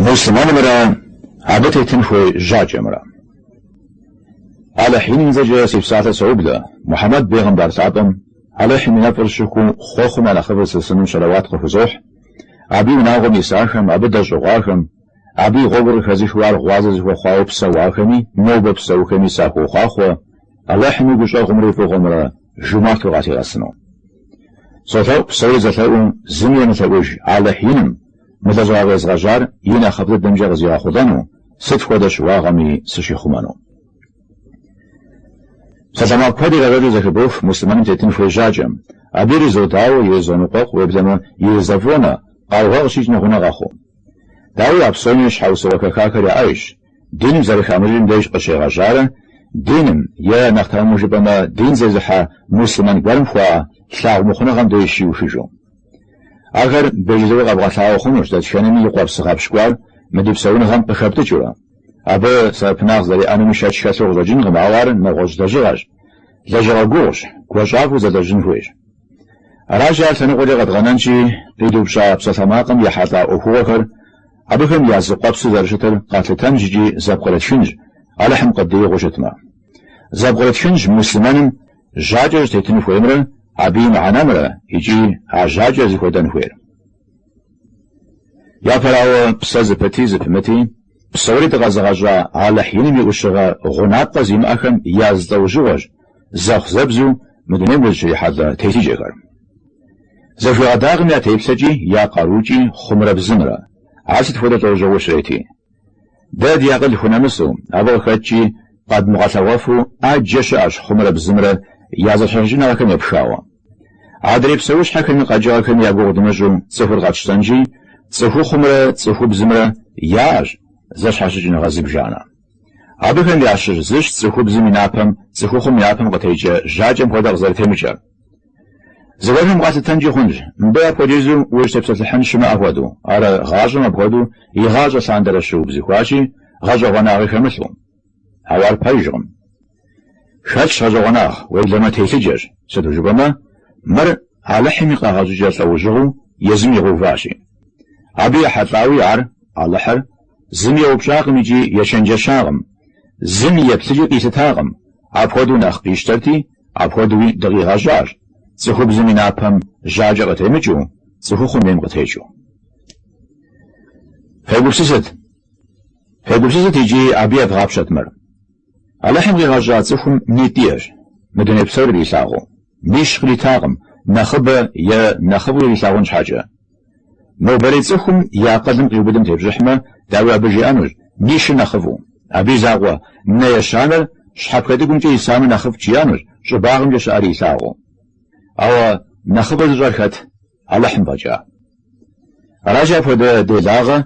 Муслъымэнымрэ абы тетын хуей жьакӏэмрэ. Алыхь Иным и цӏэкӏэ си псалъэ соублэ, Мухьэмэд бегъымбар лъапӏэм Алыхьым и нэфӏыр щыху хъуэхъум я нэхъыфӏыр лъысыну щэлэуат къыхузохь, абы и унагъуэм исахэм, абы дэщӏыгъуахэм, абы и гъуэгур къыхэзыхыу ар гъуазэ зыхуэхъуауэ псэуахэми, нобэ псэухэми сахуохъуахъуэ Алыхьым и гущӏэгъумрэ и фӏыгъуэмрэ, жумарту къалъигъэсыну. Солъэӏу псори зэлъэӏум зыми емылъэӏуж Алыхь Иным мы лэжьыгъэ къезгъэжьар и нэхъыфӏ дыдэмкӏэ къызигъэхъулӏэну, сыт хуэдэ щыуагъэми сыщихъумэну. Псалъэмакъ куэд ирагъэкӏуэкӏыу зэхыбох муслъымэным тетын хуей жьакӏэм. Абы иризодауэ, иризоныкъуэкъу, уеблэмэ иризэфӏонэ, къаугъэ къыщикӏ нэгъунэ къохъу. Дауи, а псоми щхьэусыгъуэ хэхахэр яӏэжщ. диным зэрыхамыщӏыкӏым деж къыщегъэжьарэ, диным, е, нэхъ тэмэму жыпӏэмэ, дин зезыхьэ муслъымэн гуэрым хуаӏэ лъагъумыхъуныгъэм деж щиухыжу. Ахэр бежызыгъуэ къэбгъэлъагъуэ хъунущ дэтхэнэми и къуэпс гъэпщкӏуар мы ди псэуныгъэм къыхэптӏыкӏыурэ. Абы сэбэпынагъ зэриӏэнуми шэч хэлъу къыщӏэкӏынкъым, ауэ ар нэгъуэщӏ лэжьыгъэщ, лэжьыгъэ гугъущ, гуащӏафӏэу зэлэжьын хуейщ. Аращи, ар лъэныкъуэкӏэ къэдгъэнэнщи, къидупщӏа псалъэмакъым ехьэлӏа ӏуэхугъуэхэр, Абыхэм я зы къуэпсу зэрыщытыр къэтлъытэнщ икӏи зэпкърытхынщ, Алыхьым къыддиӏыгъыу щытмэ. Зэпкърытхынщ муслъымэным жьакӏэ щӏытетын хуеймрэ абы и мыхьэнэмрэ икӏи а жьакӏэр зыхуэдэн хуейр. Япэрауэ, псэ зыпыти зыпымыти, псори дыкъэзыгъэщӏа Алыхь Иным и ӏущыгъэ гъунапкъэ зимыӏэхэм я зы лӏэужьыгъуэщ зэхъу-зэбзу мы дунейм узыщрихьэлӏэ телъыджэхэр. Зэхуэдэкъым я теплъэкӏи, я къарукӏи хъумрэ бзымрэ, ар сыт хуэдэ лӏэужьыгъуэу щрети. Дэ ди акъыл хунэмысу, абы къыхэкӏкӏи, къэдмыгъэлъэгъуэфу ӏэджэ щыӏэщ хъумрэ бзымрэ я зэщхьэщыкӏыныгъэхэм епхауэ. Адрей псэущхьэхэми къэкӏыгъэхэми я гугъу дымыщӏу цӏыхур къэтщтэнщи, цӏыхухъумрэ цӏыхубзымрэ яӏэщ зэщхьэщыкӏыныгъэ зыбжанэ. Абыхэм ящыщ зыщ цӏыхубзым и напэм цӏыхухъум и напэм къытекӏэ жьакӏэм хуэдэ къызэрытемыкӏэр. Зыгуэрхэм къалъытэнкӏи хъунщ мыбы апхуэдизу ущытепсэлъыхьын щымыӏэ хуэдэу, ар гъащӏэм апхуэдэу игъащӏэ лъандэрэ щыубзыхуащи, гъэщӏэгъуэнагъи хэмылъу. Ауэ ар пэжкъым. Хэлъщ гъэщӏэгъуэнагъ, уеблэмэ телъыджэщ, сыту жыпӏэмэ, мыр Алыхьым и къэгъэщӏыкӏэ лӏэужьыгъуэу езым игъэуващи. Абы ехьэлӏауи ар, Алыхьыр, зыми еупщӏакъым икӏи ечэнджэщакъым, зыми и еплъыкӏи къилъытакъым, апхуэдэу нэхъ къищтэрти, Апхуэдэуи дыкъигъэщӏащ, цӏыхубзым и напэм жьакӏэ къытемыкӏыу, цӏыхухъум ейм къытекӏыу. Фегупсысыт! Фегупсысыт икӏи абы евгъапщэт мыр. Алыхьым къигъэщӏа цӏыхум нитӏ иӏэщ, мы дуней псори ирилъагъуу, нищ къритакъым, нэхъыбэ е нэхъыфӏу ирилъагъун щхьэкӏэ, Нобэрей цӏыхум и акъылым къиубыдым тепщӏыхьмэ, дауи абы жиӏэнущ, нищыр нэхъыфӏу. Абы и закъуэ, нэ ещанэр, щхьэпхэтӏыгумкӏэ исамэ нэхъыфӏт жиӏэнущ, щӏыбагъымкӏэ щыӏэри илъагъуу. Ауэ нэхъыфӏыр зыщӏэр хэт? Алыхьым фӏэкӏа. Аращи, апхуэдэ делагъэ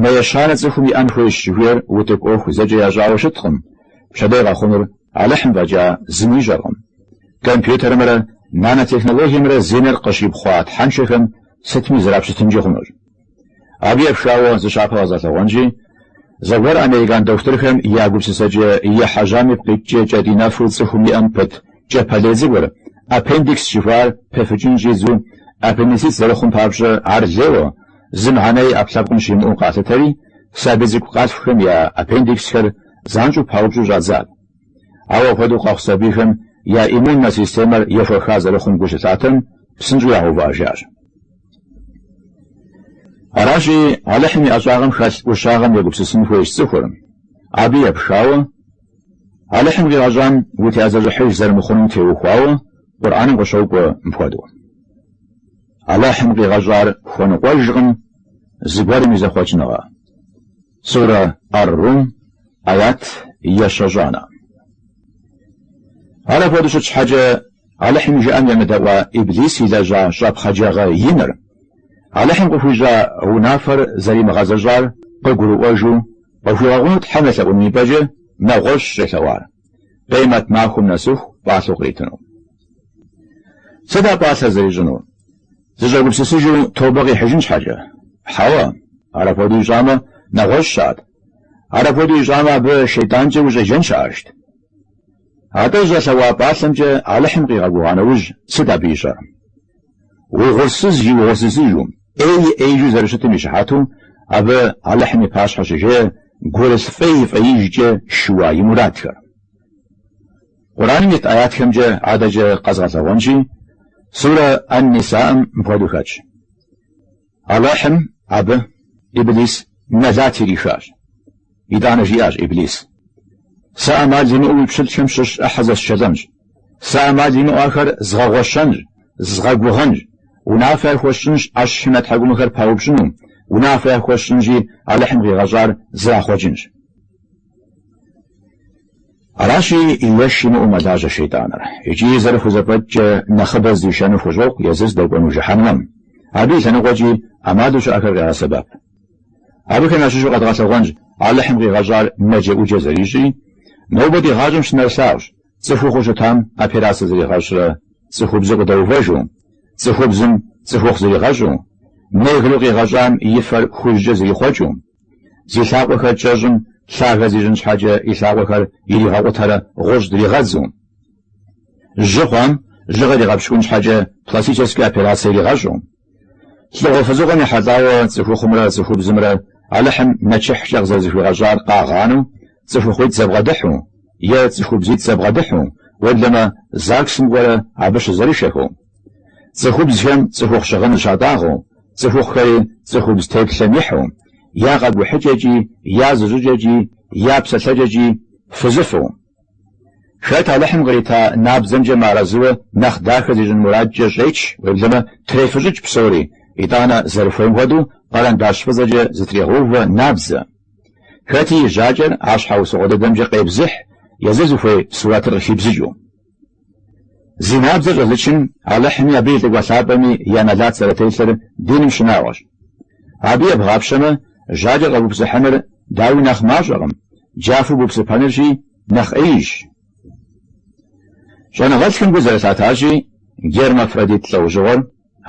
Нэ ещанэ цӏыхум иӏэн хуейщ жыхуиӏэр утыку ӏуэху зэкӏэ ящӏауэ щыткъым, пщэдей къэхъунур Алыхьым фӏэкӏа зыми ищӏэркъым. Компьютерымрэ нанотехнологиемрэ зи нэр къыщипхъуа тхьэншэхэм сытми зрапщытынкӏи хъунущ. Абы епхауэ зы щапхъэ къэзгъэлъэгъуэнщи, зэгуэр американ дохутырхэм я гупсысэкӏэ ехьэжьам ипкъ иткӏэ кӏэтӏий нэфу цӏыхум иӏэм пыт кӏэпэлей цӏыкӏур, аппендикс жыхуаӏэр, пыфыкӏын щӏидзэу, аппендицит зэрыхъум папщӏэ ар лейуэ, зы мыхьэнэ и ӏэпкълъэпкъым щимыӏэу къалъытэри, сабий цӏыкӏу къалъхухэм я аппендиксхэр занщӏэу паупщӏу щӏадзат. Ауэ апхуэдэу къэхъу сабийхэм я иммуннэ системэр ехуэха зэрыхъум гу щылъатэм, псынщӏэу ягъэувыӏэжащ. Аращи, Алыхьым и ӏэщӏагъэм хэлъ ӏущагъэм егупсысын хуейщ цӏыхур. Абы епхауэ, Алыхьым къигъэщӏам утеӏэзэщӏыхьыж зэрымыхъунум теухуауэ Къурӏэным къыщокӏуэ мыпхуэдэу. Алыхьым къигъэщӏар хуэныкъуэжкъым зыгуэрым и зэхъуэкӏыныгъэ. Сурэ Ар-Рум, аят ещэщӏанэ. Ар апхуэдэу щыт щхьэкӏэ, Алыхьым и жыӏэм емыдэӏуа Иблис илэжьа щӏэпхъаджагъэ иныр, Алыхьым къыхуищӏа унафэр зэримыгъэзэщӏар къыгурыӏуэжу, къыхуигъэгъуну Тхьэм елъэӏуным ипӏэкӏэ нэгъуэщӏщ щӏелъэӏуар. Къемэт махуэм нэсыху пӏалъэу къритыну. Сыт а пӏалъэр зэрищӏынур? Зыщӏэгупсысыжу тобэ къихьыжын щхьэкӏэ? Хьэуэ, ар апхуэдэу ищӏамэ, нэгъуэщӏщ ар. Ар апхуэдэу ищӏамэ, абы шейтӏанкӏэ ущӏеджэн щыӏэжт. Атӏэ зыщӏэлъэӏуа пӏалъэмкӏэ Алыхьым къигъэгугъа нэужь, сыт абы ищӏэр? Угъурсыз и угъурсызыжу. Ӏей ӏеижу зэрыщытым и щыхьэту, абы Алыхьым и пащхьэ щыжеӏэ гурылъ фӏей фӏеижкӏэ шыуа и мурадхэр. Къурӏэным ит аятхэмкӏэ адэкӏэ къэзгъэлъэгъуэнщи, Сурэ Ан-Нисаӏым мыпхуэдэу хэтщ. Алыхьым абы Иблис нэлат ирихащ. Итӏанэ жиӏащ Иблис, Сэ ӏэмал имыӏэу уи пщылӏхэм щыщ ӏыхьэ зэсшэлӏэнщ. Сэ ӏэмал имыӏэу ахэр згъэгъуэщэнщ, згъэгугъэнщ. Унафэ яхуэсщӏынщ ӏэщхьи нэ тхьэкӏумэхэр паупщӏыну, унафэ яхуэсщӏынщи, Алыхьым къигъэщӏар зрахъуэкӏынщ. Аращи, еш имыӏэу мэлажьэ шейтӏаныр. Икӏи зэрыхузэфӏэкӏкӏэ нэхъыбэ здишэну хущӏокъу езыр здэкӏуэну жыхьэнмэм. Абы и лъэныкъуэкӏи ӏэмалу щыӏэхэр къегъэсэбэп. Абыхэм ящыщу къэдгъэлъэгъуэнщ Алыхьым къигъэщӏар нэджэӏуджэ зэрищӏи, нобэ ди гъащӏэм щынэрылъагъущ, цӏыхухъуу щытам операцэ зригъэщӏрэ, цӏыхубзу къыдэувэжу, цӏыхубзым цӏыхухъу зригъэщӏу, негру къигъэщӏам и фэр хужькӏэ зрихъуэкӏыу. Зи лъакъуэхэр кӏэщӏым лъагэ зищӏын щхьэкӏэ и лъакъуэхэр иригъэкъутэрэ гъущӏ дригъэдзу. Жьы хъуам жьыгъэр игъэпщкӏун щхьэкӏэ пластическэ операцэ иригъэщӏу. Лӏыгъуэ фызыгъуэм ехьэлӏауэ цӏыхухъумрэ цӏыхубзымрэ Алыхьым нэчыхькӏэ къызэрызэхуигъэщӏар къагъанэу, цӏыхухъуитӏ зэбгъэдыхьу, е цӏыхубзитӏ зэбгъэдыхьу, уеблэмэ, ЗАГС-м кӏуэрэ абы щызэрышэхэу. Цӏыхубзхэм цӏыхухъу щыгъын зыщатӏагъэу, цӏыхухъухэри цӏыхубз теплъэм ихьу, я къэкӏухьыкӏэкӏи, я зыщӏыкӏэкӏи, я псэлъэкӏэкӏи фызыфу. Хэт Алыхьым кърита набдзэмкӏэ мыарэзыуэ нэхъ дахэ зищӏын мурадкӏэ щӏеч, уеблэмэ, трефыщӏыкӏ псори, итӏанэ, зэрыхуейм хуэдэу, къэрэндащ фӏыцӏэкӏэ зытрегъэувэ набдзэ. Хэти и жьакӏэр а щхьэусыгъуэ дыдэмкӏэ къебзыхь, езыр зыхуей сурэтыр къыхибзыкӏыу. Зи набдзэр щӏэзычым Алыхьми абы и Лӏыкӏуэ Лъапӏэми я нэлат зэрытелъыр диным щынагъуэщ. Абы ебгъапщэмэ, жьакӏэр къэбупсыхьыныр, дауи, нэхъ мащӏэкъым, джафэу бупсыпэнырщи, нэхъ ӏеижщ. Щӏэныгъэлӏхэм гу зэрылъатащи, гермафродит лӏэужьыгъуэр,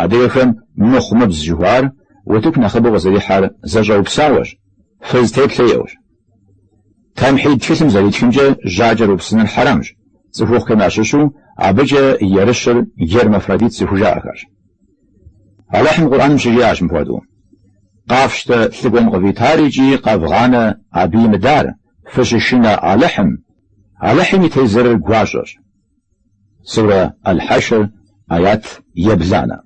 адыгэхэм мыхъумыбз жыхуаӏэр, утыку нэхъыбэу къызэрихьэр зэщӏэупсауэщ, фыз теплъэ иӏэущ. Тамхьид тхылъым зэритхымкӏэ жьакӏэр упсыныр хьэрэмщ, цӏыхухъухэм ящыщу абыкӏэ ерыщыр гермафродит зыхужаӏэхэрщ. Алыхьым Къурӏэным щыжиӏащ мыпхуэдэу, Къафщтэ лӏыкӏуэм къывитар икӏи къэвгъанэ абы имыдар, фыщышынэ Алыхьым. Алыхьым и тезырыр гуащӏэщ. Сурэ Аль-Хьэшр, аят ебланэ.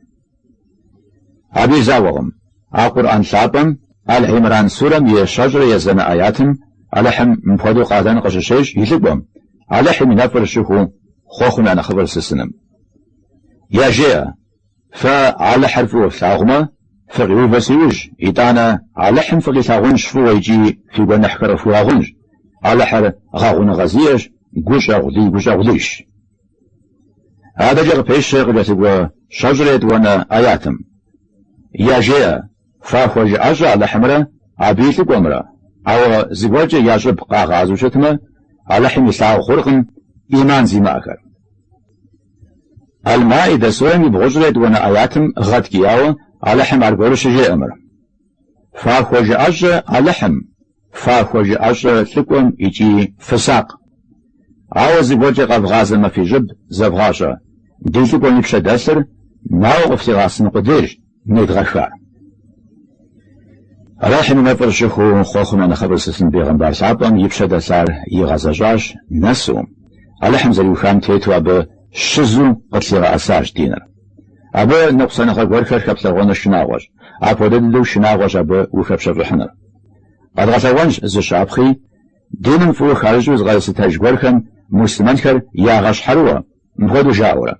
Абы и закъуэкъым, а Къурӏэн лъапӏэм, Аль-Имран сурэм и щэщӏрэ езанэ аятым, Алыхьым мыпхуэдэу къалэн къыщыщещӏ и лӏыкӏуэм, Алыхьым и нэфӏыр щыхуэу хъуэхъум я нэхъыфӏыр сысыным. Яжеӏэ. Фэ Алыхьыр фӏыуэ флъагъумэ, фыкъиувэ си ужь, итӏанэ Алыхьым фыкъилъагъунщ фӏыуэ икӏи фи гуэныхьхэр къыфхуигъэгъунщ. Алыхьыр гъэгъуныгъэ зиӏэщ, гущӏэгъулий гущӏэгъулийщ. Адэкӏэ къыпещэ къыкӏэлъыкӏуэ щэщӏрэ етӏуанэ ӏэятым. Яжеӏэ. Фахуэжыӏэщӏэ Алыхьымрэ Абы и лӏыкӏуэмрэ, ауэ зыгуэркӏэ я щӏыб къагъазэу щытмэ, Алыхьым илъагъу хъуркъым ӏиман зимыӏэхэр. Аль-Маидэ сурэм и бгъущӏрэ етӏуанэ ӏэятым гъэткӏияуэ Алыхьым аргуэру щыжеӏэ мыр. Фахуэжыӏэщӏэ Алыхьым! Фахуэжыӏэщӏэ лӏыкӏуэм икӏи фысакъ. Ауэ зыгуэркӏэ къэвгъазэмэ фи щӏыб зэвгъащӏэ. Ди лӏыкӏуэм и пщэ дэлъыр наӏуэу къыфлъигъэӏэсыну къудейрщ недгъэхар. Алыхьым и нэфӏыр щыхуу хъуэхъум я нэхъыфӏыр зылъысын бегъымбар лъапӏэм и пщэ дэлъар игъэзэщӏащ нэсу, Алыхьым зэриухам тету абы щызу къытлъигъэӏэсащ диныр. Абы ныкъусаныгъэ гуэрхэр хэплъагъуэныр шынагъуэщ, апхуэдэ дыдэу шынагъуэщ абы ухэпщэфӏыхьыныр. Къэдгъэлъэгъуэнщ зы щапхъи, диным фӏыуэ хащӏыкӏыу зыкъэзылъытэж гуэрхэм муслъымэнхэр ягъэщхьэрыуэ, мыпхуэдэу жаӏэурэ,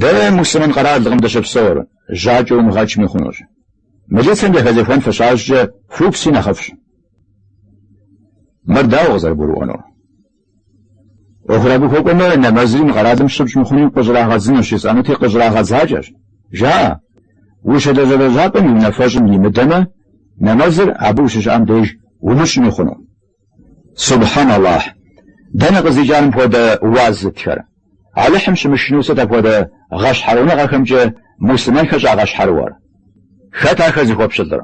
Дэ муслъымэн къэралкъым дыщыпсэур, жьакӏэ умыгъэкӏми хъунущ. Мылицэм яхэзехуэн фыщащӏкӏэ фупси нэхъыфӏщ. Мыр дауэ къызэрыбгурыӏуэнур? ӏуэхур абы хуэкӏуэмэ, нэмэзри мы къэралым щыпщӏ мыхъуну къыщӏрагъэдзынущ, ищӏэнути къыщӏрагъэдзакӏэщ. Жаӏэ, ущылажьэ лэжьапӏэм и унафэщӏым имыдэмэ, нэмэзыр абы ущыщыӏэм деж умыщӏми хъуну. Субхьэн Аллахь! Дэнэ къыздикӏар мыпхуэдэ уаз зытхэр? Алыхьым щымышынэу сыт апхуэдэ гъэщхьэрыуныгъэхэмкӏэ муслъымэнхэр щӏагъэщхьэрыуэр? Хэт ахэр зыхуэпщылӏыр?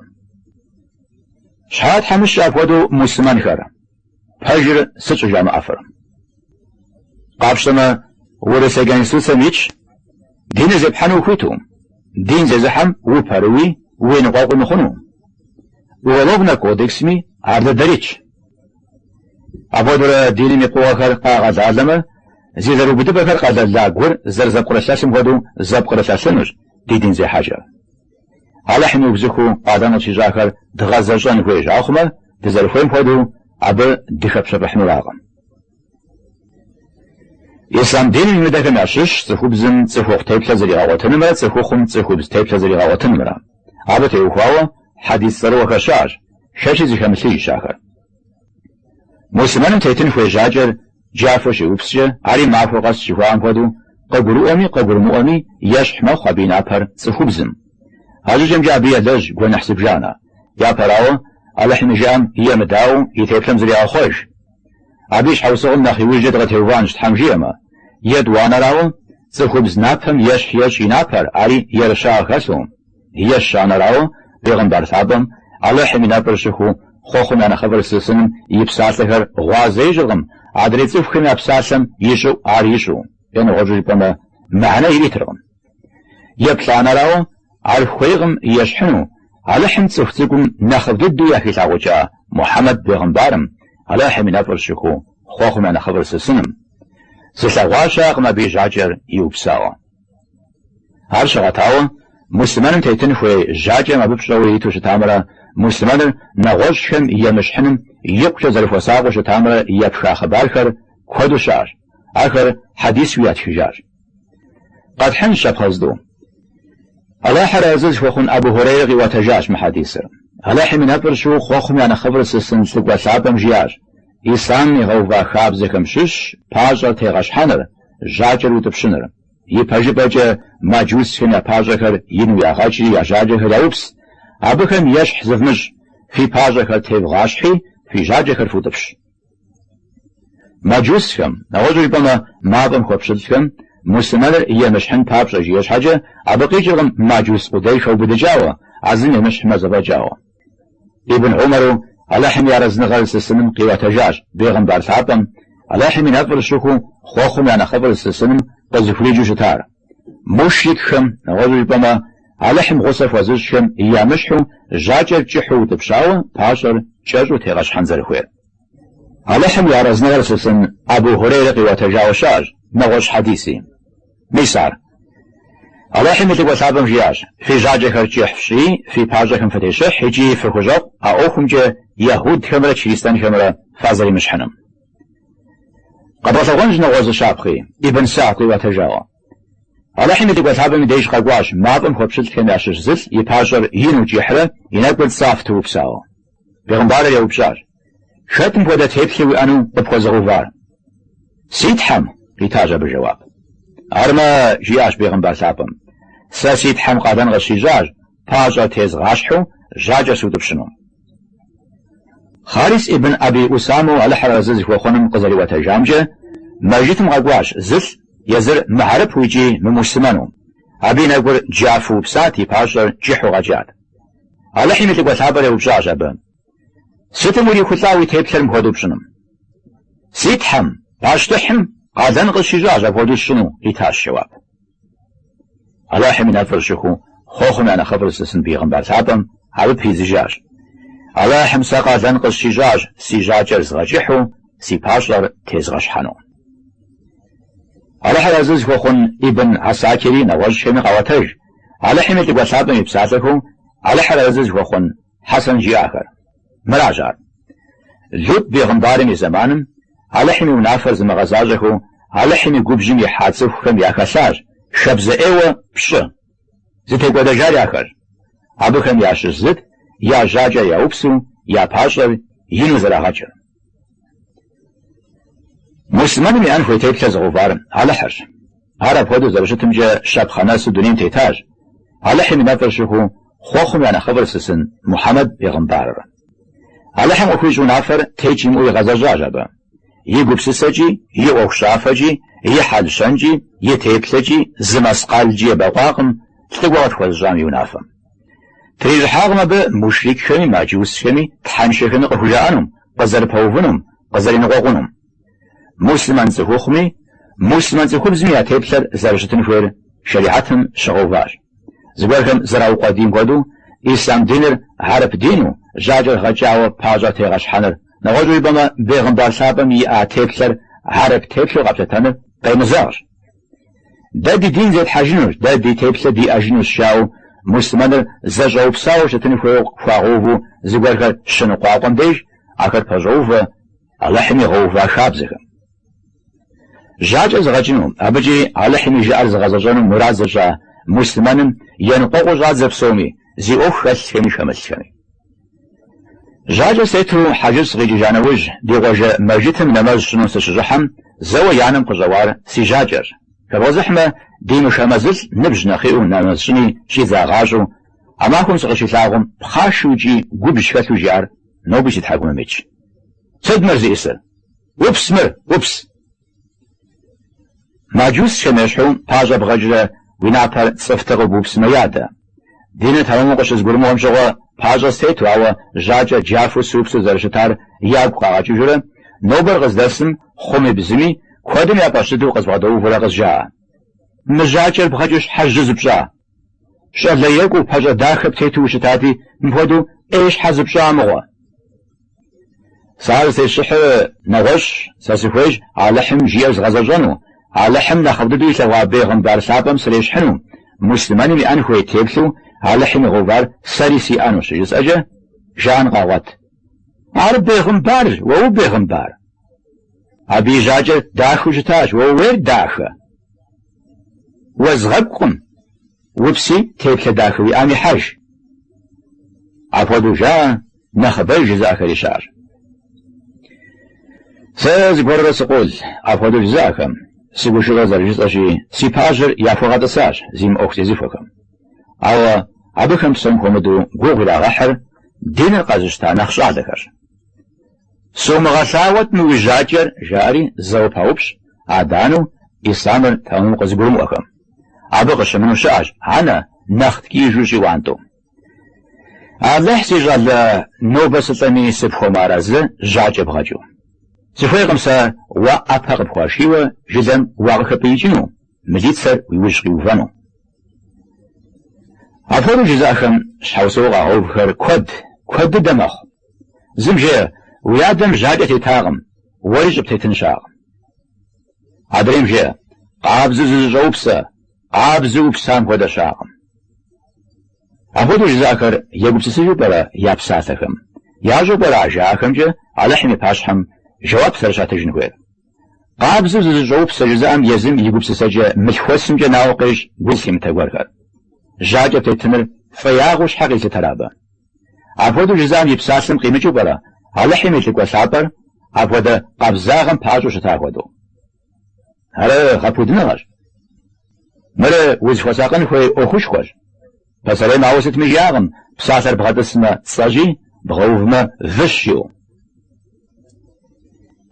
Щхьэ тхьэмыщкӏэ апхуэдэу муслъымэнхэр? Пэжыр сыт щӏыжамыӏэфыр? Къапщтэмэ, Урысей Конституцэм итщ, диныр зепхьэну ухуиту, дин зезыхьэм упэрыуи, уеныкъуэкъуи мыхъуну. Уголовнэ кодексми ар дыдэр итщ. Апхуэдэурэ диным и пкъыгъуэхэр къагъэлалэмэ, зи зэрыубыдыпӏэхэр къэлэла гур зэрызэпкърылъэлъым хуэдэу зэпкърылъэлъынущ ди дин зехьэкӏэр. Алыхьым иубзыхуу къалэн къытщищӏахэр дгъэзэщӏэн хуейщ ахъумэ, дызэрыхуейм хуэдэу абы дыхэпщэфӏыхьынуракъым. Ислъам диным имыдэхэм ящыщщ цӏыхубзым цӏыхухъу теплъэ зригъэгъуэтынымрэ цӏыхухъум цӏыхубз теплъэ зригъэгъуэтынымрэ. Абы теухуауэ хьэдис цӏэрыӏуэхэр щыӏэщ, шэчи зыхэмылъыжщ ахэр. Муслъымэным тетын хуей жьакӏэр джафэу щиупскӏэ, ари махуэ къэс жыхуаӏэм хуэдэу, къыгурыӏуэми къыгурымыӏуэми, ещхь мэхъу абы и напэр цӏыхубзым. А щӏыкӏэмкӏэ абы елэжь гуэныхь зыбжанэ. Япэрауэ, Алыхьым и жыӏэм емыдаӏуэу, и теплъэм зригъэхъуэж. Абы и щхьэусыгъуэм нэхъ иужькӏэ дыкъытеувыӏэнщ Тхьэм жиӏэмэ. Етӏуанэрауэ, цӏыхубз напэм ещхь ещӏ и напэр, ари ерыщагъ хэлъу. Ещанэрауэ, Бегъымбар лъапӏэм, Алыхьым и нэфӏыр щыхуу, хъуэхъум я нэхъыфӏыр зылъысыным и псалъэхэр гъуазэ ищӏыркъым, адрей цӏыхухэм я псалъэм и щӏыӏу ар ищӏу, е нэгъуэщӏу жыпӏэмэ, мыхьэнэ иритыркъым. Еплӏанэрауэ, ар хуейкъым ещхьыну, Алыхьым цӏыху цӏыкӏум нэхъыфӏ дыдэу яхилъагъукӏа Мухьэмэд бегъымбарым, Алыхьым и нэфӏыр щыхуу, хъуэхъум я нэхъыфӏыр зылъысыным. Зылъэгъуа щыӏэкъым абы и жьакӏэр иупсауэ. Ар щыгъэтауэ, муслъымэным тетын хуей жьакӏэм абы пщӏэуэ иту щытамрэ муслъымэныр нэгъуэщӏхэм емыщхьыным икъукӏэ зэрыхуэсакъыу щытамрэ епха хъыбархэр куэду щыӏэщ, ахэр хьэдисуи ятхыжащ. Къэтхьынщ щапхъэ зытӏу. Алыхьыр Арэзы зыхуэхъун Абу Хурейрэ къиӏуэтэжащ мы хьэдисыр. Алыхьым и нэфӏыр щыхуу хъуэхъум я нэхъыфӏыр зылъысын лӏыкӏуэ лъапӏэм жиӏащ, Ислъам игъэува хабзэхэм щыщщ пащӏэр тегъэщхьэныр, жьакӏэр утӏыпщыныр. Ипэжыпӏэкӏэ маджусхэм я пащӏэхэр ину ягъэкӏри я жьакӏэхэр яупс, абыхэм ещхь зывмыщӏ, фи пащӏэхэр тевгъащхьи, фи жьакӏэхэр футӏыпщ. Маджусхэм, нэгъуэщӏу жыпӏэмэ, мафӏэм хуэпщылӏхэм, муслъымэныр емыщхьын папщӏэ жиӏэ щхьэкӏэ, абы къикӏыркъым маджус къудей хэубыдыкӏауэ, а зым емыщхьмэ зэфӏэкӏауэ. Ибн Умару Алыхьым и арэзыныгъэр зылъысыным къиӏуэтэжащ, бегъымбар лъапӏэм, Алыхьым и нэфӏыр щыхуу, хъуэхъум я нэхъыфӏыр зылъысыным къызэрыхуриджэу щытар. Мушрикхэм, нэгъуэщӏу жыпӏэмэ, Алыхьым гъусэ хуэзыщӏхэм ямыщхьу, жьакӏэр кӏыхьу утӏыпщауэ, пащӏэр кӏэщӏу тегъэщхьэн зэрыхуейр. Алыхьым и арэзыныгъэр зылъысын Абу Хурейрэ къиӏуэтэжауэ щыӏэщ нэгъуэщӏ хьэдиси. Мис ар. Алыхьым и Лӏыкӏуэ Лъапӏэм жиӏащ, Фи жьакӏэхэр кӏыхь фщӏи, фи пащӏэхэм фытещыхь икӏи фыхущӏэкъу а ӏуэхумкӏэ яхьудхэмрэ чристэнхэмрэ фазэремыщхьыным. Къэдгъэлъэгъуэнщ нэгъуэщӏ зы щапхъи, Ибн Сагд къиӏуэтэжауэ. Алыхьым и Лӏыкӏуэ Лъапӏэм и деж къэкӏуащ мафӏэм хуэпщылӏхэм ящыщ зылӏ и пащӏэр ину кӏыхьрэ и нэкӏур цӏафтэу упсауэ. Бегъымбарыр еупщӏащ. Хэт мыпхуэдэ теплъэ уиӏэну къыпхуэзыгъэувар? Си Тхьэм, къитащ абы жэуап. Армэ, жиӏащ бегъымбар лъапӏэм, сэ си Тхьэм къалэн къысщищӏащ пащӏэ тезгъащхьу жьакӏэ сутӏыпщыну. Харис ибн Аби Усаму Алыхьыр арэзы зыхуэхъуным къызэриӏуэтэжамкӏэ, мэжджытым къэкӏуащ зылӏ езыр мыхьэрыпу икӏи мымуслъымэну. Абы и нэгур джафэу упсат, и пащӏэр кӏыхьу къэкӏат. Алыхьым и лӏыкӏуэ лъапӏэр еупщӏащ абы. Сытым урихулӏа уи теплъэр мыпхуэдэу пщӏыным? Си Тхьэм, пащтыхьым, къалэн къысщищӏащ апхуэдэу сщӏыну, къитащ жэуап. Алыхьым и нэфӏыр щыхуу Хъуэхъум я нэхъыфӏыр зылъысын бегъымбар лъапӏэм абы пидзыжащ. Алыхьым сэ къалэн къысщищӏащ си жьакӏэр згъэкӏыхьу, си пащӏэр тезгъэщхьэну. Алыхьыр арэзы зыхуэхъун Ибн Асакири нэгъуэщӏхэми къаӏуэтэж, Алыхьым и лӏыкӏуэ лъапӏэм и псалъэхэу Алыхьыр арэзы зыхуэхъун Хьэсэн жиӏахэр. Мыращ ар. Лут бегъымбарым и зэманым Алыхьым и унафэр зымыгъэзащӏэхэу Алыхьым и губжьым ихьа цӏыхухэм яхэлъащ хабзэ ӏейуэ пщӏы. Зытекӏуэдэжар ахэрщ. Абыхэм ящыщ зыт я жьакӏэр яупсу я пащӏэр ину зэрагъэкӏыр. Муслъымэным иӏэн хуей теплъэ зыгъэувар Алыхьырщ. Ар апхуэдэу зэрыщытымкӏэ щапхъэ нэсу дунейм тетащ, Алыхьым и нэфӏыр щыхуэу хъуэхъум я нэхъыфӏыр лъысын Мухьэмэд бегъымбарыр. Алыхьым къыхуищӏ унафэр текӏ имыӏэу игъэзэщӏащ абы. И гупсысэкӏи, и ӏуэхущӏафэкӏи, и хьэл-щэнкӏи, и теплъэкӏи зы мэскъалкӏи ебэкъуакъым лӏыкӏуэ къытхуэзыщӏам и унафэм. Трищӏыхьакъым абы мушрикхэми мэджусхэми тхьэншэхэми къыхужаӏэнум, къызэрыпэувынум, къызэриныкъуэкъунум. Муслъымэн цӏыхухъуми, муслъымэн цӏыхубзми я теплъэр зэрыщытын хуейр шэрихьэтым щыгъэуващ. Зыгуэрхэм зэраукъуэдийм хуэдэу, ислъам диныр хьэрып дину, жьакӏэр гъэкӏауэ пащӏэ тегъэщхьэныр, нэгъуэщӏу жыпӏэмэ, бегъымбар лъапӏэм иӏа теплъэр хьэрып теплъэу къэплъытэныр къемызэгъщ. Дэ ди дин зетхьэжынущ, дэ ди теплъэ диӏэжынущ жаӏэу муслъымэныр зэщӏэупсауэ щытын хуейуэ хуагъэуву зыгуэрхэр щыныкъуакъуэм деж, ахэр пэщӏоувэ Алыхьым игъэува хабзэхэм. Жьакӏэ зыгъэкӏыну, абыкӏи Алыхьым и жыӏэр зыгъэзэщӏэну мурад зыщӏа муслъымэным еныкъуэкъуу щӏадзэ псоми, зи ӏуэху хэлъхэми хэмылъхэми. Жьакӏэ стету хьэжыр сыкъикӏыжа нэужь, ди къуажэ Мэжытым нэмэз сщӏыну сыщыщӏыхьэм, зэуэ я нэм къыщӏэуар си жьакӏэрщ. Хэбгъэзыхьмэ, ди мышэ мэзылӏ ныбжь нэхъ иӏэу нэмэз щӏыни щӏидзагъащӏэу, а махуэм сыкъыщилъагъум, пхъашэу икӏи губжь хэлъу жиӏар нобэ си тхьэкӏумэм итщ. Сыт мыр зиӏысыр? Упс мыр, упс! Мэджусхэм ещхьу пащӏэ бгъэкӏрэ уи напэр цӏыфтэкъыу бупсмэ ядэ. Диныр тэмэму къыщызгурымыӏуэм щыгъуэ пащӏэ стету, ауэ жьакӏэ джафу супсу зэрыщытар ягу къагъэкӏыжурэ, нобэр къыздэсым, хъуми бзыми, куэдым я фӏэщ дыдэу къызбгъэдэувэурэ къызжаӏэ. Мы жьакӏэр бгъэкӏыу щхьэ жьы зыпщӏа? Щӏалэ екӏуу, пащӏэ дахэ птету ущытати, мыпхуэдэу ӏей щхьэ зыпщӏа мыгъуэ? Сэ ар зытесщӏыхьыр нэгъуэщӏщ, сэ сыхуейщ Алыхьым жиӏэр згъэзэщӏэну, Алыхьым нэхъыфӏ дыдэу илъэгъуа бегъымбар лъапӏэм срещхьыну, муслъымэным иӏэн хуей теплъэу Алыхьым игъэувар сэри сиӏэну щыжысӏэкӏэ жаӏэн къагъуэт. Ар бегъымбарщ, уэ убегъымбар? Абы и жьакӏэр дахэу щытащ, уэ ууейр дахэ? Уэзгъэкӏукъым, упси теплъэ дахэ уиӏам ихьэж. Апхуэдэу жаӏэ нэхъыбэж жызыӏэхэри щыӏэщ. Сэ зыгуэрурэ сыкъол апхуэдэу жызыӏэхэм, сыгушыӏэу зэрыжысӏэщи, си пащӏэр яхуэгъэтӏысащ зи мыӏуэху зезыхуэхэм. Ауэ абыхэм псом хуэмыдэу гугъу ирагъэхьыр диныр къэзыщта нэхъ щӏалэхэрщ. Сумыгъэлъагъуэт мы уи жьакӏэр, жаӏэри, зэуэ паупщӏ, адэ-анэу, ислъамыр тэмэму къызыгурымыӏуэхэм. Абы къыщымыну щыӏэщ, анэ, нэхъ ткӏийжу щӏиӏуантӏэу. Алыхь, си щӏалэ, нобэ сылӏэми сыпхуэмыарэзы, жьакӏэ бгъэкӏыу. Сыхуейкъым сэ уэ ӏэпэ къыпхуашийуэ жылэм уакъыхэпӏиикӏыну, мылицэр уи ужь къиувэну. Апхуэдэу жызыӏэхэм щхьэусыгъуэ къагъэувхэр куэд, куэд дыдэ мэхъу. Зым жеӏэ, Уи адэм жьакӏэ тетакъым, уэри щӏыптетын щыӏэкъым. Адрейм жеӏэ, Къабзэу зызыщӏэупсэ, къабзэу упсам хуэдэ щыӏэкъым. Апхуэдэу жызыӏэхэр егупсысыжу пӏэрэ я псалъэхэм? Ящӏэу пӏэрэ а жаӏэхэмкӏэ Алыхьым и пащхьэм жэуап зэрыщатыжын хуейр? Къабзэу зызыщӏэупсэ жызыӏэм езым и гупсысэкӏэ мылъхуэсымкӏэ науэ къещӏ гу зылъимытэ гуэрхэр. Жьакӏэ тетыныр фӏеягъэу щхьэ къилъытэр абы? Апхуэдэу жызыӏэм и псалъэм къимыкӏыу пӏэрэ Алыхьым и лӏыкӏуэ лъапӏэр апхуэдэ къабзагъэм пэӏэщӏэу щыта хуэдэу? Ар гъэпудыныгъэщ. Мыр узыхуэсакъын хуей ӏуэхушхуэщ. Пасэрейм ауэ сытми жиӏакъым, псалъэр бгъэтӏысмэ, цӏэщи, бгъэувмэ, выщ, жиӏэу.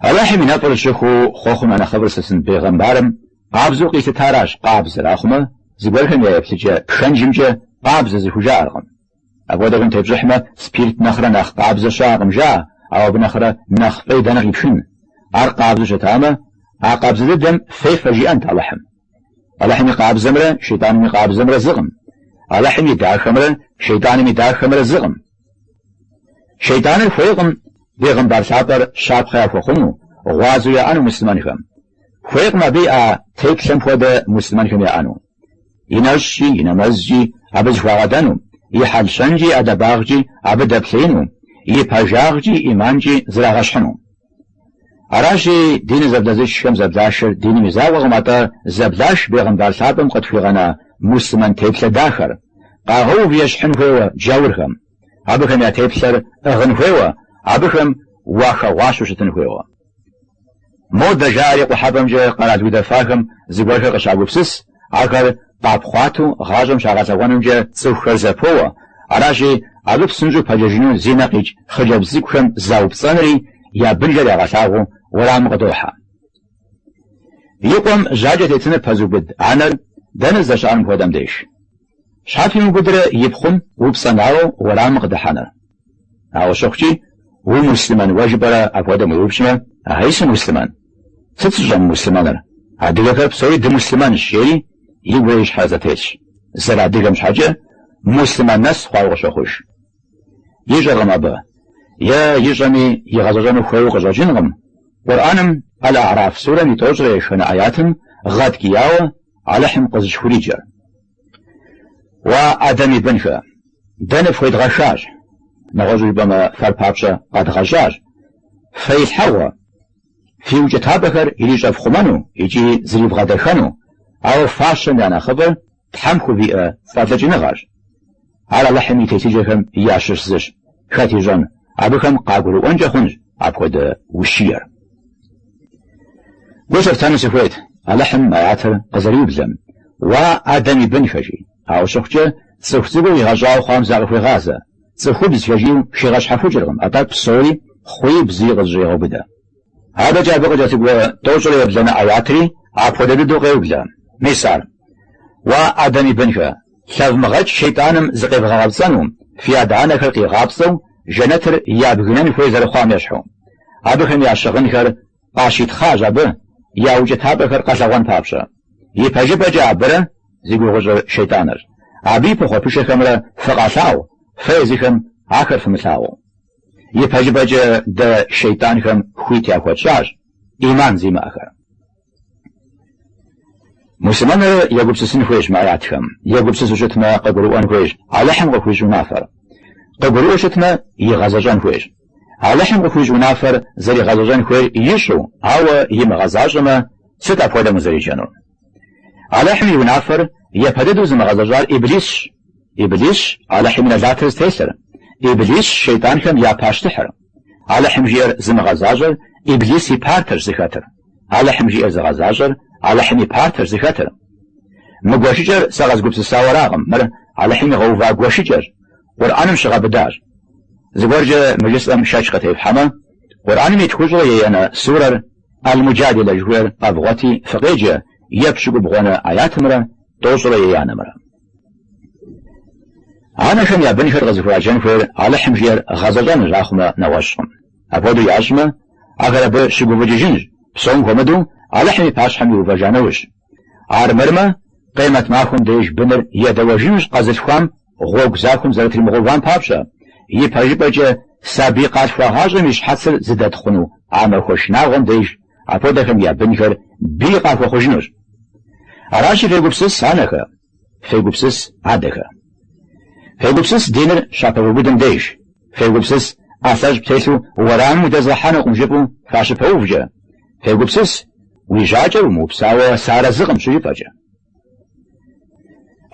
Алыхьым и нэфӏыр щыхуэу хъуэхъум я нэхъыфӏыр зылъысын бегъымбарым къабзэу къилъытаращ къабзэр, ахъумэ, зыгуэрхэм я еплъыкӏэ пхэнжымкӏэ къабзэ зыхужаӏэркъым. Апхуэдэхэм тепщӏыхьмэ, спирт нэхърэ нэхъ къабзэ щыӏэкъым жаӏэ, ауэ абы нэхърэ нэхъ фӏей дэнэ къипхын? Ар къабзэу щытамэ, а къабзэ дыдэм фефэ жиӏэнт Алыхьым. Алыхьым и къабзэмрэ Шейтӏаным и къабзэмрэ зыкъым. Алыхьым и дахэмрэ Шейтӏаным и дахэмрэ зыкъым. Шейтӏаныр хуейкъым бегъымбар лъапӏэр щапхъэ яхуэхъуну, гъуазэу яӏэну муслъымэнхэм. Хуейкъым абы иӏа теплъэм хуэдэ муслъымэнхэм яӏэну. И нэщӏкӏи, и нэмэзкӏи абы зыхуагъэдэну, и хьэл-щэнкӏи, и ӏэдэбагъкӏи абы дэплъеину, и пэжагъкӏи, ӏиманкӏи зрагъэщхьыну. Аращи, дин зэблэзышхэм зэблашэр диным и закъуэкъым, атӏэ зэблаш бегъымбар лъапӏэм къытхуигъэна муслъымэн теплъэ дахэр, къагъэув ещхьын хуейуэ джаурхэм, абыхэм я теплъэр ӏыгъын хуейуэ, абыхэм уахэгъуащэу щытын хуейуэ. Модэ жаӏэри къухьэпӏэмкӏэ къэрал удэфахэм зыгуэрхэр къыщагупсыс, ахэр къапхъуатэу гъащӏэм щагъэлъэгъуэнымкӏэ цӏыхухэр зэпоуэ, аращи, абы псынщӏэу пэджэжыну зи нэ къикӏ хъыджэбз цӏыкӏухэм заупцӏэнри, я бынжэр ягъэлъагъуэу уэрамым къыдохьэ. И къуэм жьакӏэ тетыныр пэзыубыд анэр дэнэ здэщыӏэр мыпхуэдэм деж? Щхьэ пимыубыдрэ и пхъум упцӏэнауэ уэрамым къыдыхьэныр? Ауэ щыхъукӏи, умуслъымэн уэ жыпӏэрэ апхуэдэм уеупщӏмэ, Ахьей сымуслъымэн. Сыт сыщӏэмымуслъымэныр? Адыгэхэр псори дымуслъымэнщ, жери игурэ и щхьэрэ зэтелъщ. Зэрыадыгэм щхьэкӏэ муслъымэн нэс хъуауэ къыщохъуж. Ищӏэркъым абы, е ищӏэми игъэзэщӏэну хуейуэ къыщӏэкӏынкъым. Къурӏэным Аль-А'раф сурэм и тӏощӏрэ еханэ аятым гъэткӏияуэ Алыхьым къызыщыхуриджэр. Уа, Адэм и бынхэ! Дэ ныфхуедгъэхащ, нэгъуэщӏу жыпӏэмэ, фэр папщӏэ къэдгъэщӏащ фэилъхьэгъуэ, фи укӏытапӏэхэр ирищӏэфхъумэну икӏи зривгъэдэхэну, ауэ фащэм я нэхъыфӏыр Тхьэм хувиӏэ фӏэлӏыкӏыныгъэрщ. Ар Алыхьым и телъыджэхэм ящыщ зыщ. Хэт ищӏэн, абыхэм къагурыӏуэнкӏэ хъунщ апхуэдэ ущиер. Гу лъыфтэну сыхуейт Алыхьым аятыр къызэриублэм, Уа, Адэм и бынхэ, жи. Ауэ щыхъукӏэ, цӏыху цӏыкӏуу къигъэщӏауэ хъуам закъыхуегъазэ. Цӏыхубзхэ жиӏэу хигъэщхьэхукӏыркъым, атӏэ псори хъуи бзыи къызэщӏегъэубыдэ. Адэкӏэ абы къыкӏэлъыкӏуэ тӏощӏрэ ебланэ аятри апхуэдэ дыдэу къеублэ. Мис ар, Уа, Адэм и бынхэ, Лъэвмыгъэкӏ шейтӏаным зыкъевгъэгъэпцӏэну, фи адэ-анэхэр къигъапцӏэу жэнэтыр ябгынэн хуей зэрыхъуам ещхьу. Абыхэм я щыгъынхэр къащитхъащ абы я укӏытапӏэхэр къэлъэгъуэн папщӏэ. Ипэжыпӏэкӏэ абырэ зи гугъу ищӏыр шейтӏанырщ. Абы и пыхъуэпышэхэмрэ фыкъалъагъу, фэ езыхэм ахэр фымылъагъуу. Ипэжыпӏэкӏэ дэ шейтӏанхэм хуит яхуэтщӏащ ӏиман зимыӏэхэр. Муслъымэныр егупсысын хуейщ мы аятхэм. Егупсысу щытмэ, къыгурыӏуэн хуейщ Алыхьым къыхуищӏ унафэр. Къыгурыӏуэу щытмэ, игъэзэщӏэн хуейщ. Алыхьым къыхуищӏ унафэр зэригъэзэщӏэн хуейр ищӏу, ауэ имыгъэзащӏэмэ, сыт апхуэдэм узэреджэнур? Алыхьым и унафэр япэ дыдэу зымыгъэзэщӏар Иблисщ. Иблисщ Алыхьым и нэлатыр зытелъыр, Иблисщ шейтӏанхэм я пащтыхьыр. Алыхьым жиӏэр зымыгъэзащӏэр, Иблис и партэщ зыхэтыр. Алыхьым жиӏэр зыгъэзащӏэр, Алыхьым и партэщ зыхэтыр. Мы гуэшыкӏэр сэ къэзгупсысауэ аракъым, мыр Алыхьым игъэува гуэшыкӏэщ, Къурӏэным щыгъэбыдащ. Зыгуэркӏэ мы жысӏэм шэч къытефхьэмэ, Къурӏэным и тхущӏрэ еянэ сурэр Ал-Муджадила жыхуиӏэр къэвгъуэти фыкъеджэ епщыкӏубгъуанэ аятымрэ тӏощӏрэ еянэмрэ. Анэхэм я бынхэр къызыхураджэн хуейр Алыхьым жиӏэр гъэзэщӏэнырщ ахъумэ нэгъуэщӏкъым. Апхуэдэу ящӏмэ, ахэр абы щыгуфӏыкӏыжынщ, псом хуэмыдэу Алыхьым и пащхьэм иувэжа нэужь. Армырмэ, Къемэт махуэм деж быныр едэуэжынущ къэзылъхуам гъуэгу захуэм зэрытримыгъэувам папщӏэ, ипэжыпӏэкӏэ сабий къалъхуагъащӏэм и щхьэцыр зыдэтхъуну а махуэ шынагъуэм деж апхуэдэхэм я бынхэр бий къахуэхъужынущ. Аращи, фегупсыс, анэхэ, фегупсыс, адэхэ. Фегупсыс диныр щапэвубыдым деж, фегупсыс ӏэлъэщӏ птелъу уэрамым удэзгъэхьэнукъым жыфӏэу фащыпэувкӏэ, фегупсыс уи жьакӏэр умыупсауэ сыарэзыкъым щыжыфӏэкӏэ.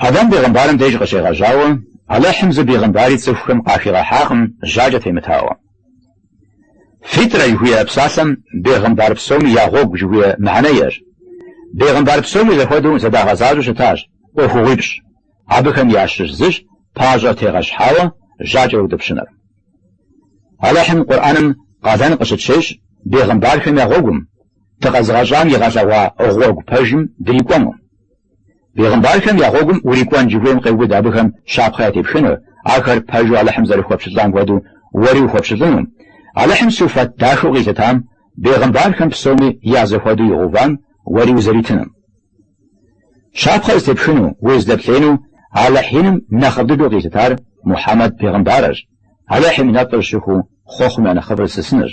Адам бегъымбарым деж къыщегъэжьауэ, Алыхьым зы бегъымбари цӏыхухэм къахигъэхьакъым жьакӏэ темытауэ. Фитрэ жыхуиӏэ псалъэм бегъымбар псоми я гъуэгу жыхуиӏэ мыхьэнэ иӏэщ. Бегъымбар псоми зэхуэдэу зэдагъэзащӏэу щытащ ӏуэхугъуипщӏ, абыхэм ящыщ зыщ пащӏэр тегъэщхьауэ жьакӏэр утӏыпщыныр. Алыхьым Къурӏэным къалэн къыщытщещӏ бегъымбархэм я гъуэгум. Дыкъэзыгъэщӏам игъэлъэгъуа гъуэгу пэжым дрикӏуэну. Бегъымбархэм я гъуэгум урикӏуэн жыхуиӏэм къеубыд абыхэм щапхъэ ятепхынур, ахэр пэжу Алыхьым зэрыхуэпщылӏам хуэдэу уэри ухуэпщылӏыну. Алыхьым суфэт дахэу къилъытам, бегъымбархэм псоми я зэхуэдэу игъэувам уэри узэритынум. Щапхъэ зытепхыну, узыдэплъеину Алыхь иным нэхъыфӏ дыдэу къилъытар Мухьэмэд бегъымбарырщ, Алыхьым и нэфӏыр щыхуэу хъуэхъум я нэхъыфӏыр зылъысынырщ.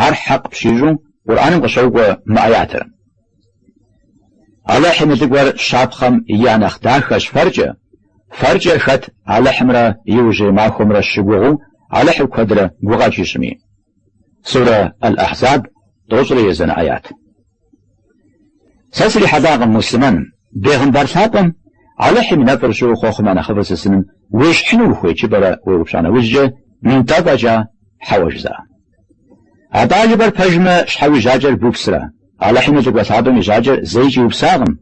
Ар хьэкъ пщищӏу Къурӏэным къыщокӏуэ мы ӏэятыр. Алыхьым и лӏыкӏуэр щапхъэм я нэхъ дахэщ фэркӏэ, фэркӏэ хэт Алыхьымрэ Иужьрей Махуэмрэ щыгугъыу Алыхьыр куэдрэ гукъэкӏ ищӏми. Сурэ Аль-Ахьзаб тӏощӏрэ езанэ ӏэят. Сэ срихьэлӏакъым муслъымэн, бегъымбар лъапӏэм Алыхьым и нэфӏыр щыхуэу хъуэхъум я нэхъыфӏыр зылъысыным уещхьыну ухуей жыпӏэрэ уеупщӏа нэужькӏэ, нтӏэ фӏэкӏа, хьэуэ жызыӏа. Атӏэ жыпӏэр пэжмэ щхьэ уи жьакӏэр бупсрэ? Алыхьым и лӏыкӏуэ лъапӏэм и жьакӏэр зэикӏ иупсакъым,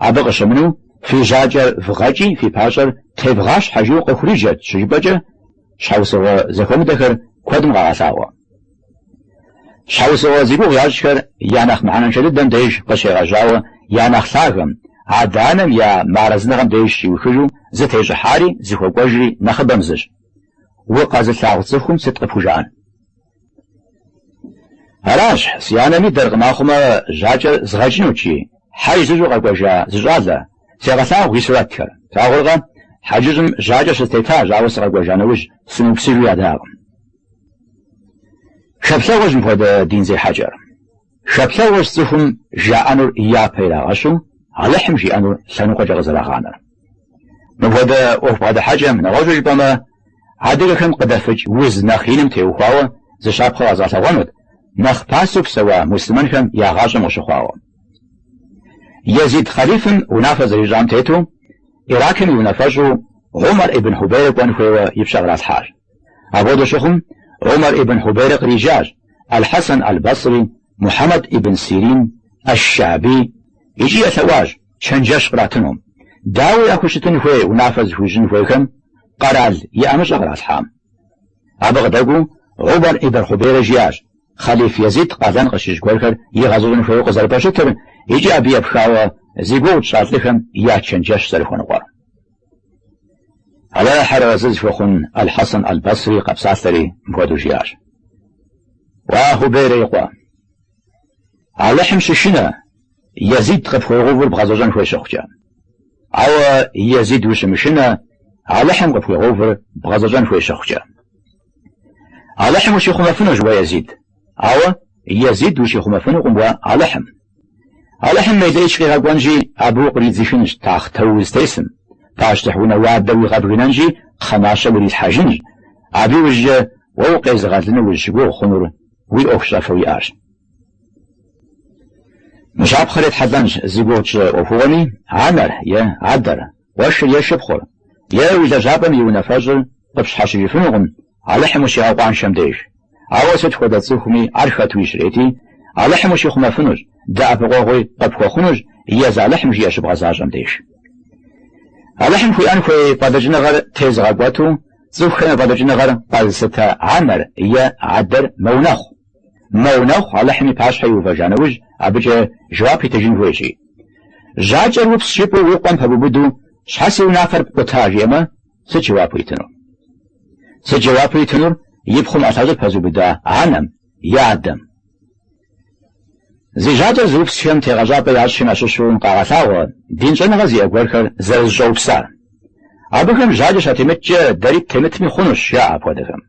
абы къыщымынэу фи жьакӏэр вгъэкӏи фи пащӏэр тевгъащхьэ жиӏэу къыхуриджэрт щыжыпӏэкӏэ щхьэусыгъуэ зэхуэмыдэхэр куэдым къагъэлъагъуэ. Щхьэусыгъуэ зи гугъу ящӏхэр я нэхъ мыхьэнэншэ дыдэм деж къыщегъэжьауэ я нэхъ лъагэм, адэ-анэм я мыарэзыныгъэм деж щиухыжу зытещӏыхьари зыхуэкӏуэжри нэхъыбэм зыщ. Укъэзылъагъу цӏыхум сыт къыпхужаӏэн? Аращ, си анэм идэркъым ахъумэ жьакӏэр згъэкӏынут жи, хьэж зыщӏу къэкӏуэжа зы щӏалэ, сегъэлъагъу и сурэтхэр. Плъагъуркъэ, хьэджыщӏым жьакӏэ щыстетащ, ауэ сыкъэкӏуэжа нэужь, сымыупсыжу ядакъым. Хэплъэгъуэщ мыпхуэдэ дин зехьэкӏэр. Хэплъэгъуэщ цӏыхум жаӏэнур япэ ирагъэщу Алыхьым жиӏэнур лъэныкъуэкӏэ къызэрагъанэр. Мыпхуэдэ ӏуэху бгъэдыхьэкӏэм, нэгъуэщӏу жыпӏэмэ, адыгэхэм къыдэфыкӏ уз нэхъ иным теухуауэ зы щапхъэ къэзгъэлъэгъуэнут, нэхъ пасэу псэуа муслъымэнхэм я гъащӏэм къыщыхъуауэ. Езид хъалифым унафэ зэрищӏам тету, Иракым и унафэщӏу Умар ибн Хубейрэ кӏуэн хуейуэ и пщэ къралъхьащ. Апхуэдэу щыхъум, Умар ибн Хьубейрэ къриджащ Аль-Хьэсэн Аль-Басри, Мухьэмэд ибн Сирин, Ащ-Щаби икӏи елъэӏуащ чэнджэщ къратыну. Дауи яхущытын хуей унафэ зыхуищӏын хуейхэм къэрал и ӏэмыщӏэ къралъхьам? Абы къыдэкӏуэу Умар ибн Хьубейрэ жиӏащ хъэлиф Езид къалэн къыщищӏ гуэрхэр игъэзэщӏын хуейуэ къызэрыпэщытыр икӏи абы епхауэ зи гугъу тщӏа лӏыхэм я чэнджэщ зэрыхуэныкъуэр. Алыхьыр арэзы зыхуэхъун Аль-Хьэсэн Аль-Басри къэпсалъэри мыпхуэдэу жиӏащ, Уа Хьубейрэ и къуэ! Алыхьым щышынэ, Езид къыпхуегъэувыр бгъэзэщӏэн хуей щыхъукӏэ. Ауэ Езид ущымышынэ, Алыхьым къыпхуегъэувыр бгъэзэщӏэн хуей щыхъукӏэ. Алыхьым ущихъумэфынущ уэ, Езид. Ауэ, Езид, ущихъумэфынукъым уэ Алыхьым. Алыхьым мелэӏыч къигъэкӏуэнщи, абы укъридзыхынщ тахътэу узытесым, пащтыхь унэ уардэр уигъэбгынэнщи, кхъэмащэ урилъхьэжынщ. Абы иужькӏэ уэ укъезыгъэлыну узыщыгугъ хъунур уи ӏуэхущӏафэу уиӏарщ. Мы щапхъэр етхьэлӏэнщ зи гугъу тщӏы ӏуэхугъуэми, анэр е адэр, Къуэшыр е шыпхъур, е уи лэжьапӏэм и унафэщӏыр къыпщхьэщыжыфынукъым Алыхьым ущигъэкъуаншэм деж. Ауэ сыт хуэдэ цӏыхуми ар хэту щрети, Алыхьым ущихъумэфынущ, дэӏэпыкъуэгъуи къыпхуэхъунущ Езы Алыхьым жиӏэ щыбгъэзащӏэм деж. Алыхьым хуиӏэн хуей фӏэлӏыкӏыныгъэр тезыгъэкӏуэту цӏыхухэм я фӏэлӏыкӏыныгъэр къэзылъытэ анэр е адэр мэунэхъу. Мэунэхъу Алыхьым и пащхьэ иувэжа нэужь, абыкӏэ жэуап итыжын хуейщи. Жьакӏэр упс жыпӏэу уи къуэм пэбубыду, Щхьэ си унафэр пкъута? жиӏэмэ, сыт жэуапу итынур? Сыт жэуапу итынур и пхъум ӏэлъэщӏыр пэзубыда анэм е адэм? Зи жьакӏэр зыупсхэм тегъэщӏапӏэ ящӏым ящыщу къагъэлъагъуэ дин щӏэныгъэ зиӏэ гуэрхэр зэрызыщӏэупсар. Абыхэм жьакӏэ щатемыткӏэ дэри ттемытми хъунущ, жаӏэ апхуэдэхэм.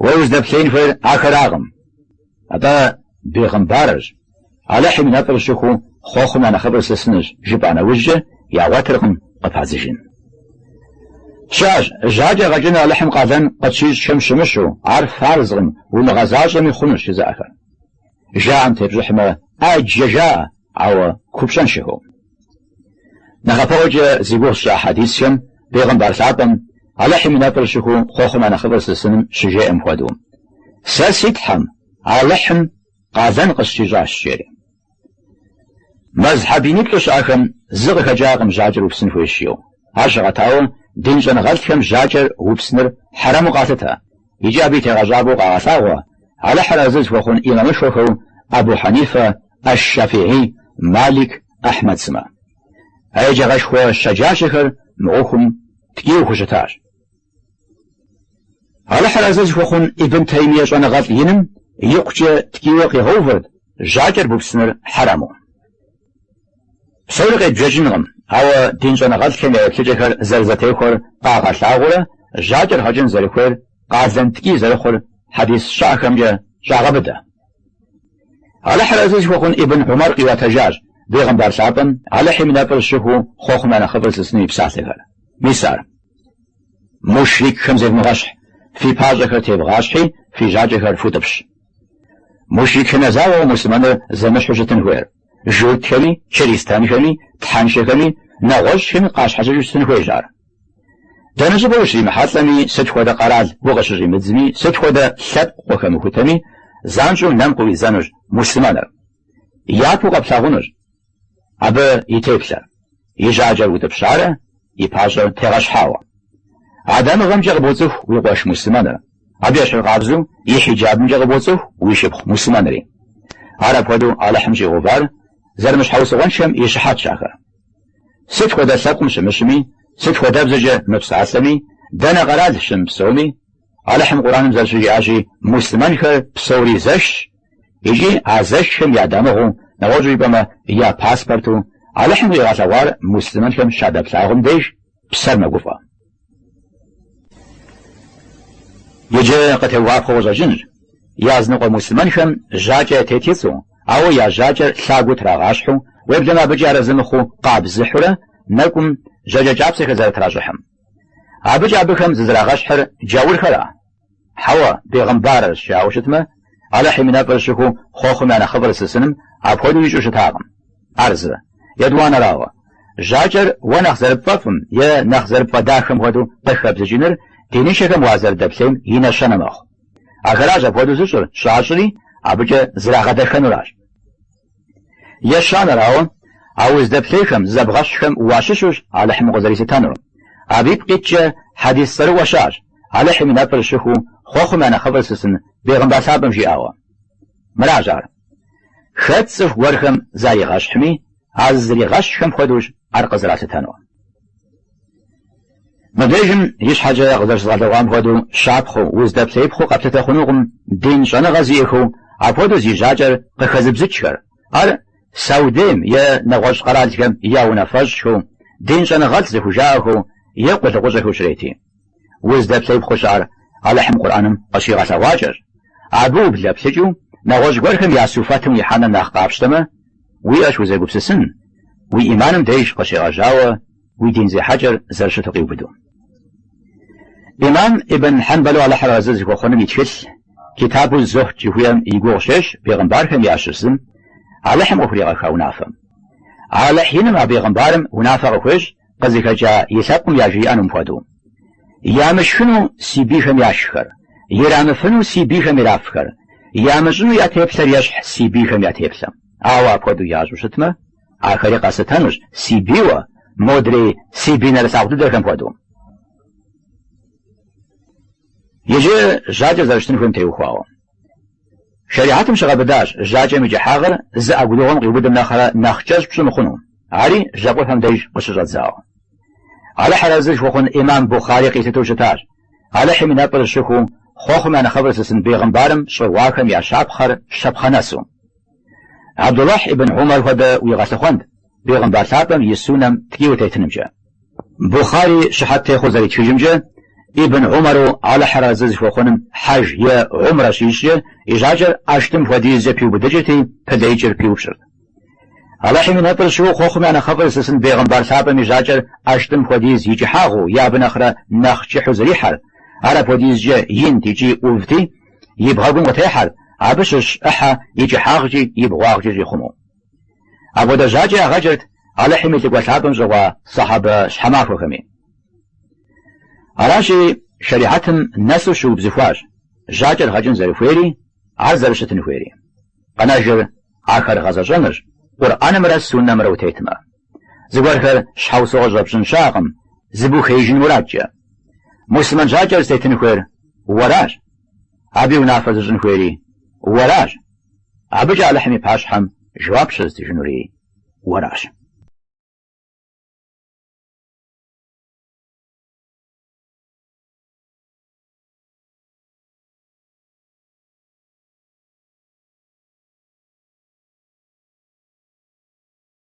Уэ уздэплъеин хуейр ахэракъым. Атӏэ бегъымбарырщ. Алыхьым и нэфӏыр щыхуу хъуэхъум я нэхъыфӏыр зылъысынырщ, жыпӏа нэужькӏэ ягъуэтыркъым къыпадзыжын. Щыӏэщ, жьакӏэ гъэкӏыныр Алыхьым къалэн къытщищӏхэм щымыщу, ар фарзкъым, умыгъэзащӏэми хъунущ жызыӏэхэр. Жаӏэм тепщӏыхьмэ, ӏэджэ жаӏэ, ауэ купщӏэншэхэу. Нэхъапэӏуэкӏэ зи гугъу тщӏа хьэдисхэм Бегъымбар лъапӏэм, Алыхьым и нэфӏыр щыхуу хъуэхъум я нэхъыфӏыр зылъысыным щыжеӏэм хуэдэу, Сэ си Тхьэм, Алыхьым, къалэн къысщищӏащ, жери. Мэзхьэб иниплӏу щыӏэхэм зы къыхэкӏакъым жьакӏэр упсын хуейщ жиӏэу. Ар щыгъэтауэ, дин щӏэныгъэлӏхэм жьакӏэр упсыныр хьэрэму къалъытэ, икӏи абы и тегъэщӏапӏэу къагъэлъагъуэ, Алыхьыр арэзы зыхуэхъун имамышхуэхэу Абу Хьэнифэ, Ащ-Щафигьи, Малик, Ахьмэд сымэ. А еджагъэшхуэ щэджащэхэр мы ӏуэхум ткӏийуэ хущытащ. Алыхьыр арэзы зыхуэхъун Ибн Таймие щӏэныгъэлӏ иным икъукӏэ ткӏийуэ къигъэувырт жьакӏэр бупсыныр хьэрэму. Псори къебжэкӏынкъым, ауэ дин щӏэныгъэлӏхэм я еплъыкӏэхэр зэрызэтехуэр къагъэлъагъуурэ жьакӏэр гъэкӏын зэрыхуейр къалэн ткӏий зэрыхъур хьэдис щыӏэхэмкӏэ щӏагъэбыдэ. Алыхьыр арэзы зыхуэхъун Ибн Умар къиӏуэтэжащ бегъымбар лъапӏэм, Алыхьым и нэфӏыр щыхуэу хъуэхъум я нэхъыфӏыр лъысын и псалъэхэр. Мис ар. Мушрикхэм зевмыгъэщхь, фи пащӏэхэр тевгъащхьи, фи жьакӏэхэр футӏыпщ. Мушрикхэм я закъуэкъым муслъымэныр зэмыщхьу щытын хуейр. журтхэми, чыристэнхэми, тхьэншэхэми, нэгъуэщӏхэми къащхьэщыкӏыу щытын хуейщ ар. Дэнэ щӏыпӏэ ущримыхьэлӏэми, сыт хуэдэ къэрал укъыщыщӏимыдзми, сыт хуэдэ лъэпкъ уахэмыхутэми, занщӏэу нэм къыӏуидзэнущ муслъымэныр, япэу къэплъагъунущ абы и теплъэр. и жьакӏэр утӏыпщарэ и пащӏэр тегъэщхьауэ. А дамыгъэмкӏэ къыбоцӏыху уи къуэш муслъымэныр, абы ещхьыркъабзэу и хьиджабымкӏэ къыбоцӏыху уи шыпхъу муслъымэнри. Ар апхуэдэу Алыхьым щӏигъэувар зэрымыщхьэусыгъуэншэм и щыхьэтщ ахэр. Сыт хуэдэ лъэпкъым щымыщми, сыт хуэдэ бзэкӏэ мыпсалъэми, дэнэ къэрал щымыпсэуми, Алыхьым Къураным зэрыщыжиӏащи, муслъымэнхэр псори зэшщ, Икӏи а зэшхэм я дамыгъэу, нэгъуэщӏу жыпӏэмэ, я паспорту, Алыхьым къигъэлъэгъуар муслъымэнхэм щадэплъагъум деж псэр мэгуфӏэ. Иджы къытеувыӏапхъэу къыщӏэкӏынщ, языныкъуэ муслъымэнхэм жьакӏэ ятет и цӏэу, ауэ я жьакӏэр лъагэу трагъащхьэу, уеблэмэ абыкӏи арэзы мыхъуу къабзыхьурэ нэкӏум жьакӏэ кӏапсэхэр зэрытращӏыхьым. Абыкӏэ абыхэм зызэрагъэщхьыр джаурхэра? Хьэуэ, бегъымбарырщ, ауэ щытмэ, Алыхьым и нэфӏыр щыхуэу хъуэхъум я нэхъыфӏыр лъысыным апхуэдэу ищӏу щытакъым. Ар зы, етӏуанэрауэ, жьакӏэр уэ нэхъ зэрыпфӏэфӏым е нэхъ зэрыпфӏэдахэм хуэдэу къыхэбзыкӏыныр диныншэхэм уазэрыдэплъейм и нэщэнэ мэхъу. Ахэращ апхуэдэу зыщӏыр щӏащӏри, абыкӏэ зрагъэдэхэнуращ. Ещанэрауэ, а уздэплъейхэм, зызэбгъэщхьхэм уащыщущ Алыхьым укъызэрилъытэнур. Абы ипкъ иткӏэ хьэдис цӏэрыӏуэ щыӏэщ, Алыхьым и нэфӏыр щыхуэу хъуэхъум я нэхъыфӏыр лъысын бегъымбар лъапӏэм жиӏауэ. Мыращ ар. Хэт цӏыху гуэрхэм заригъэщхьми, а зызригъэщхьхэм хуэдэущ ар къызэралъытэнур. Мыбдежым ищхьэкӏэ къызэрыщызгъэлъэгъуам хуэдэу щапхъэу, уздэплъеипхъыу къэплъытэ хъунукъым дин щӏэныгъэ зиӏэхэу апхуэдэу зи жьакӏэр къыхэзыбзыкӏхэр. Ар Саудейм е нэгъуэщӏ къэралхэм я унафэщӏхэу, дин щӏэныгъэлӏ зыхужаӏэхэу е къулыкъущӏэхэу щрети. Уздэплъеипхъыу щыӏэр Алыхьым Къурӏэным къыщигъэлъэгъуакӏэщ. Абы ублэплъыкӏыу, нэгъуэщӏ гуэрхэм я суфэтым ихьэныр нэхъ къапщтэмэ, уиӏэщ узэгупсысын, уи ӏиманым деж къыщегъэжьауэ, уи дин зехьэкӏэр зэрыщыту къиубыду. Имам Ибн Хьэнбэлу Алыхьыр арэзы зыхуэхъуным и тхылъ, Китабу з-зухьд жыхуиӏэм и гугъу щещӏ бегъымбархэм ящыщ зым, Алыхьым къыхуригъэха унафэм. Алыхь иным а бегъымбарым унафэ къыхуещӏ къызыхэкӏа и лъэпкъым яжриӏэнум хуэдэу. Ямышхыну си бийхэм яшххэр, ирамыфыну си бийхэм ирафхэр, ямыщӏыну я теплъэр ещхь си бийхэм я теплъэм. Ауэ апхуэдэу ящӏу щытмэ, Ахэри къэслъытэнущ си бийуэ, модрей си бий нэрылъагъу дыдэхэм хуэдэу. Иджы жьакӏэр зэрыщытын хуейм теухуауэ. Шэрихьэтым щыгъэбыдащ жьакӏэм и кӏыхьагъыр зы ӏэгурыгъуэм къиубыдым нэхърэ нэхъ кӏэщӏ пщӏы мыхъуну, ари жьэпкъыпэм деж къыщыщӏэдзауэ. Алыхьыр арэзы зыхуэхъун имам Бухъари къилъытэу щытащ, Алыхьым и нэфӏыр щыхуу, хъуэхъум я нэхъыфӏыр зылъысын бегъымбарым щӏыгъуахэм я щапхъэр щапхъэ нэсу. Абдулахь ибн Умар хуэдэ уигъэлъыхъуэнт Бегъымбар лъапӏэм и суннэм ткӏийуэ тетынымкӏэ. Бухъари щыхьэт техъуэу зэритхыжымкӏэ, Ибн Умару Алыхьыр арэзы зыхуэхъуным хьэж е умрэ щищӏкӏэ и жьакӏэр ӏэштӏым хуэдизкӏэ пиубыдыкӏырти, пылеикӏыр пиупщӏырт. Алыхьым и нэфӏыр щыхуу, хъуэхъум я нэхъыфӏыр зылъысын Бегъымбар лъапӏэм и жьакӏэр ӏэштӏым хуэдиз и кӏыхьагъыу е абы нэхърэ нэхъ кӏыхьу зэрихьэрт, ар апхуэдизкӏэ инт икӏи ӏувти, и бгъэгум къытехьэр, абы щыщ ӏыхьэ и кӏыхьагъкӏи и бгъуагъкӏи щӏихъумэу. Апхуэдэ жьакӏэ ягъэкӏырт Алыхьым и Лӏыкӏуэ Лъапӏэм щӏыгъуа сахьэбэ щхьэмахуэхэми. Аращи, шэрихьэтым нэсу щыубзыхуащ жьакӏэр гъэкӏын зэрыхуейри, ар зэрыщытын хуейри. Къэнэжыр ахэр гъэзэщӏэнырщ, Къурӏэнымрэ Суннэмрэ утетмэ. Зыгуэрхэр щхьэусыгъуэ щӏэпщӏын щыӏэкъым, зыбухеижын мурадкӏэ. Муслъымэн жьакӏэр зытетын хуейр уэращ. Абы и унафэ зыщӏын хуейри уэращ. Абыкӏэ Алыхьым и пащхьэм жэуап щызытыжынури уэращ.